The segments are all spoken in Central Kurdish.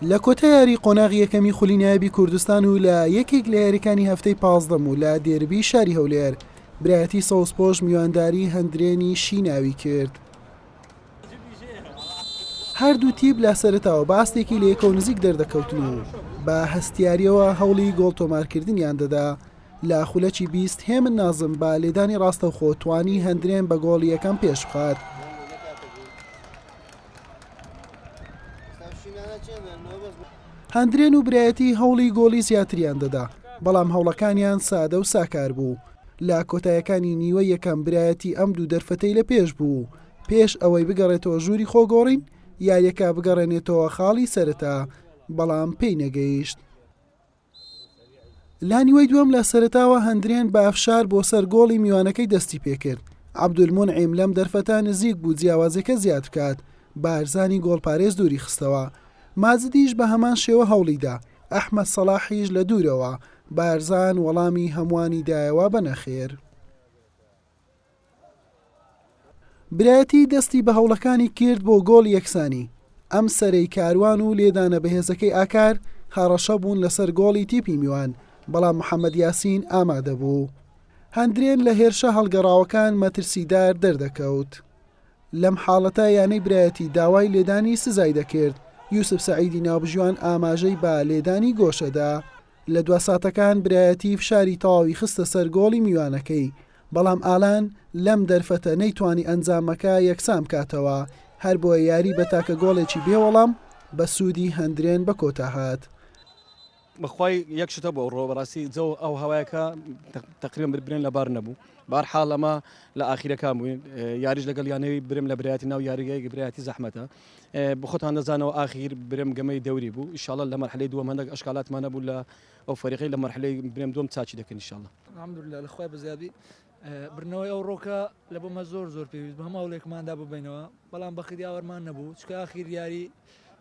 لە کۆتا یاری قۆناغی یەکەمی خولی نایابی کوردستان و لە یەکێک لە یاریەکانی هەفتەی پازدەم و لە دێربی شاری هەولێر برایەتی سەوزپۆش میوانداری هەندرێنی شیناوی کرد. هەردوو تیپ لە سەرتاوە باستێکی لە یەکەو نزیک دەردەکەوتن و بە هەستیاریەوە هەوڵی گۆڵ تۆمارکردنیان دەدا لە خولەکی بیست هێمن نازم بە لێدانی ڕاستەوخۆ توانی هەندرێن بە گۆڵ یەکەم پێش بخات هەندرێن و برایەتی هەوڵی گۆڵی زیاتریان دەدا بەڵام هەوڵەکانیان سادە و ساکار بوو لە کۆتایەکانی نیوە یەکەم برایەتی ئەم دوو دەرفەتەی لە پێش بوو پێش ئەوەی بگەڕێتەوە ژووری خۆگۆڕین یاریەکە بگەڕێنێتەوە خاڵی سەرەتا بەڵام پێی نەگەیشت. لانیوەی دووەم لە سەرتاوە هەندرێن بە ئەفشار بۆ سەر گۆڵی میوانەکەی دەستی پێکرد عبدولمون عیم لەم دەرفەتا نزیک بوو جیاوازەکە زیاد بکات بارزانی گۆڵپارێز دووری خستەوە مازدیش بە هەمان شێوە هەوڵیدا ئەحمد سەڵاحیش لە دوورەوە بارزان وەڵامی هەمووانی دایەوە بە نەخێر. برایەتی دەستی بە هەوڵەکانی کرد بۆ گۆڵی یەکسانی، ئەم سەرەی کاروان و لێدانە بەهێزەکەی ئاکار هەڕەشە بوون لەسەر گۆڵی تیپی میوان، بەڵام محەمەد یاسین ئامادەبوو. هەندرێن لە هێرشە هەڵگەڕاوەکان مەترسیدار دەردەکەوت. لەم حاڵەتە یانەی برایەتی داوای لێدانی سزای دەکرد، یوسف سەعیدی ناوبژیوان ئاماژەی بە لێدانی گۆشەدا. لە دوا ساتەکان برایەتی فشاری تەواوی خستە سەر گۆڵی میوانەکەی، بەڵام ئالان لەم دەرفەتە نەیتوانی ئەنجامەکە یەکسان بکاتەوە، هەربۆیە یاری بە تاکە گۆڵێکی بێ وەڵام بە سوودی هەندرێن بە کۆتا هات. بەخوای یەک شت هەبوو ئەوڕۆ بەڕاستی جەو ئەو هەوایەکە تەقریبەن بر برێن لەبار نەبوو بارحاڵ ئەمە لە ئاخیرەکان بووین یاریش لەگەڵ یانەوەی برم لە برایەتی ناو یاریگەیەکی برایەتی زەحمەتە بخۆتان دەزانەوە ئاخیر برم گەمەی دەوری بوو ئیشاڵە لە مەرحلەی دووەم هەندێک ئەشکالاتمانە بوو لە ئەو فەریقی لە مەرحلەی برێم دوم چاچی دەکەن ئیشاڵە الحمدللە لە خوای بەزیادی بردنەوەی ئەو ڕۆکە لە بۆمە زۆر زۆر پێویست بە هەموو هەوڵێکماندا ببینەوە بەڵام بەخت یاوەرمان نەبوو چکە ئاخیر یاری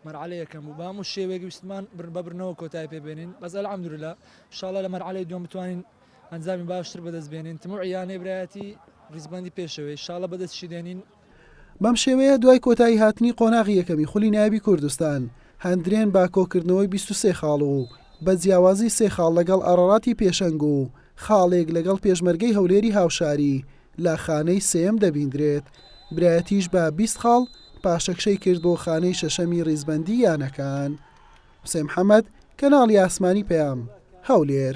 مەرعلە یەکەم بوو بام و شێوێک ویستمان بر بەبرنەوە کۆتای پێبێنین بەس الحمدللە شاڵە لە مەرعلەی دوم بتوانین ئەنجامی باشتر بەدەست بێنین تموعیانەی برایەتی ریزبەندی پێشەوەی شاڵە بەدەستشی دێنین بەم شێوەیە دوای کۆتایی هاتنی قۆناغی یەکەمی خولی نایابی کوردستان، هەندرێن بە کۆکردنەوەی بیست و سێ خاڵ و بە جیاوازی سێ خاڵ لەگەڵ ئاراراتی پێشەنگ و خاڵێک لەگەڵ پێشمەرگەی هەولێری هاوشاری لە خانەی سێیەم دەبیندرێت، برایەتیش بە بیست خاڵ پاشەکشەی کرد بۆ خانەی شەشەمی ریزبەندی یانەکان. حوسێن محەمەد، کەناڵی ئاسمانی پەیام، هەولێر.